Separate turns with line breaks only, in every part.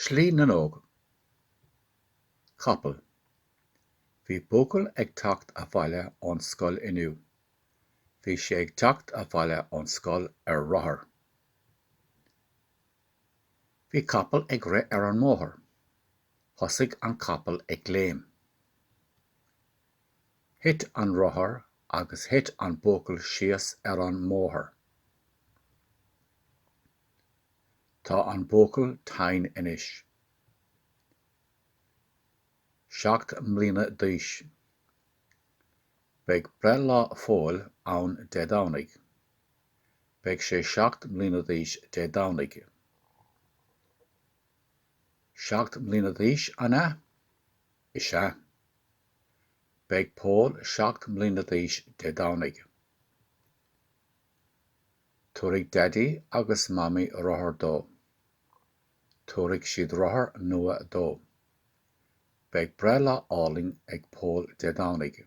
Slí na nÓg. Capall. Bhí buachaill ag teacht abhaile ón scoil inniu. Bhí sé ag teacht abhaile ón scoil ar rothar. Bhí capall ag rith ar an mbóthar. Thosaigh an capall ag léim. Thit an rothar agus thit an buachaill síos ar an mbóthar. Tá an buachaill tinn anois. Seacht mbliana d'aois. Beidh breithlá Phóil ann Dé Domhnaigh. Beidh sé seacht mbliana d'aois Dé Domhnaigh. Seacht mbliana d'aois, an ea? Is ea. Beidh Pól seacht mbliana d'aois Dé Domhnaigh. Tabharfaidh Daidí agus Mamaí rothar dó. Tabharfaidh siad rothar nua dó. Beidh breithlá álainn ag Pól Dé Domhnaigh.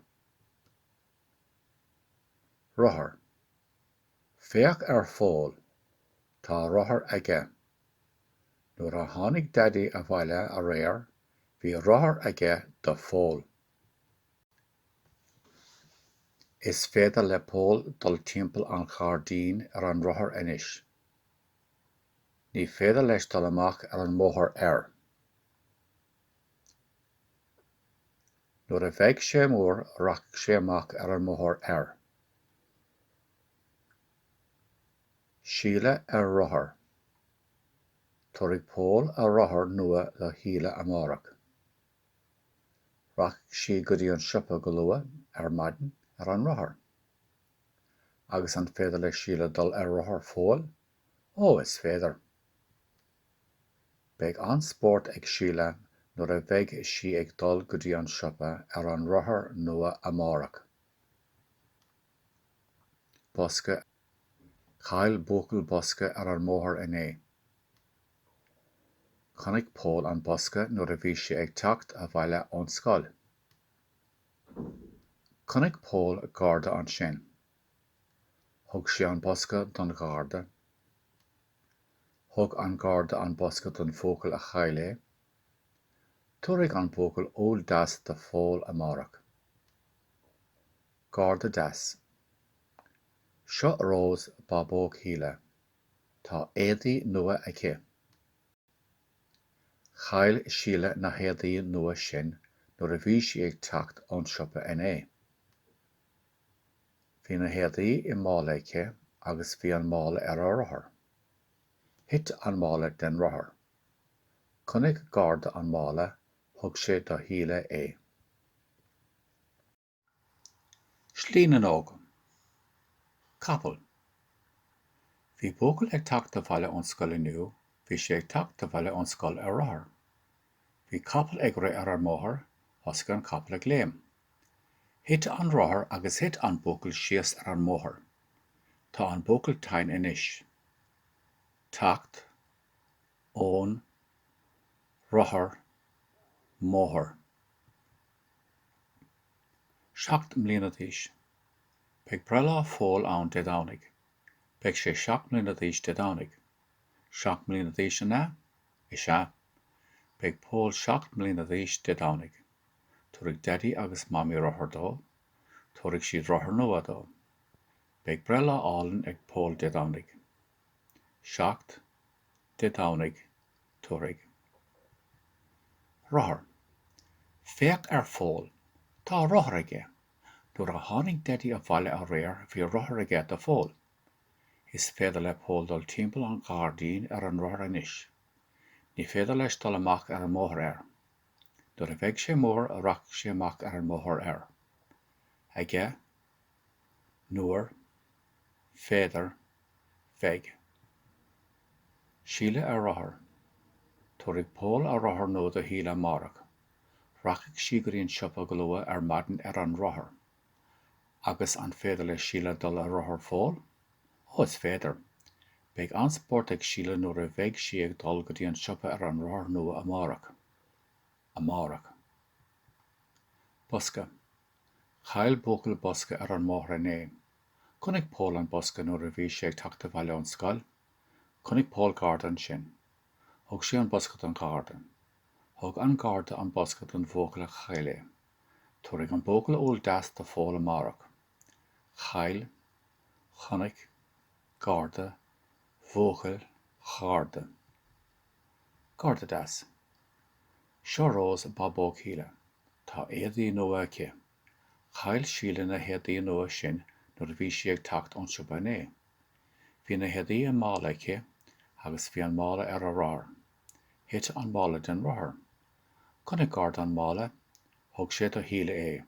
Rothar. Féach ar Phól. Tá rothar aige. Nuair a tháinig Daidí abhaile aréir bhí rothar aige do Phól. Is féidir le Pól dul timpeall an ghairdín ar an rothar anois. Ní féidir leis dul amach ar an mbóthar air. Nuair a bheidh sé mór rachaidh sé amach ar an mbóthar air. Síle ar rothar. Tabharfaidh Pól a rothar nua do Shíle amárach. Rachaidh sí go dtí an siopa go luath ar maidin ar an rothar. Agus an féidir le Síle dul ar rothar Phóil? Ó, is féidir! Beidh an-spórt ag Síle nuair a bheidh sí ag dul go dtí an siopa ar an rothar nua amárach. Bosca. Chaill buachaill bosca ar an mbóthar inné. Chonaic Pól an bosca nuair a bhí sé ag teacht abhaile ón scoil. Chonaic Pól garda ansin. Thug sé an bosca don gharda. Thug an garda an bosca don bhuachaill a chaill é. Tabharfaidh an buachaill úll deas do Phól amárach. Garda deas. Seo Rós, bábóg Shíle. Tá éadaí nua aici. Chaill Síle na héadaí nua sin nuair a bhí sí ag teacht ón siopa inné. Bhí na héadaí i mála aici agus bhí an mála ar a rothar. Thit an mála den rothar. Chonaic garda an mála, thug sé do Shíle é. Slí na n-óg. Capall. Bhí buachaill ag teacht abhaile ón scoil inniu, bhí sé ag teacht abhaile ón scoil ar rothar. Bhí capall ag rith ar an mbóthar, thosaigh an capall ag léim. Thit an rothar agus thit an buachaill síos ar an mbóthar. Tá an buachaill tinn anois. teacht, ón, rothar, mbóthar. Seacht mbliana d'aois. Beidh breithlá Phóil ann Dé Domhnaigh. Beidh sé seacht mbliana d'aois Dé Domhnaigh. Seacht mbliana d'aois, an ea? Is ea. Beidh Pól seacht mbliana d'aois Dé Domhnaigh. Tabharfaidh Deaidí agus Mamaí rothar dó. Tabharfaidh siad rothar nua dó. Beidh breithlá álainn ag Pól Dé Domhnaigh. Seacht, Dé Domhnaigh, tabharfaidh. Rothar. Féach ar Phól, tá rothar aige. Nuair a tháinig Deaidí abhaile aréir bhí rothar aige do Phól. Is féidir le Pól dul timpeall an ghairdín ar an rothar anois. Ní féidir leis dul amach ar an mbóthar air. Nuair a bheidh sé mór rachaidh sé amach ar an mbóthar air. Aige, Nuair, féidir, bheidh. Síle ar rothar. Tabharfaidh Pól a rothar nua do Shíle amárach. Rachaidh sí go dtí an siopa go luath ar maidin ar an rothar. Agus an féidir le Síle dul ar rothar Phóil? Ó, is féidir. Beidh an-spórt ag Síle nuair a bheidh sí ag dul go dtí an siopa ar an rothar nua amárach. Amárach. Bosca. Chaill buachaill bosca ar an mbóthar inné. Chonaic Pól an bosca nuair a bhí sé ag teacht abhaile ón scoil. Chonaic Pól garda ansin. Thug sé an bosca don gharda. Thug an garda an bosca don bhuachaill a chaill é. Tabharfaidh an buachaill úll deas do Phól amárach. Chaill. Chonaic. Garda. Bhuachaill. Gharda. Garda deas. Seo Rose, bábóg Shíle. Tá éadaí nua aici. Chaill Síle na héadaí nua sin nuair a bhí sí ag teacht ón siopa inné. Bhí na héadaí i mála aici agus bhí an mála ar a rothar. Thit an mála den rothar. Chonaic Garda an mála. Thug sé do Shíle é.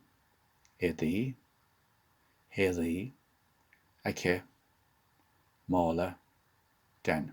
Éadaí. héadaí. aici. mála. den.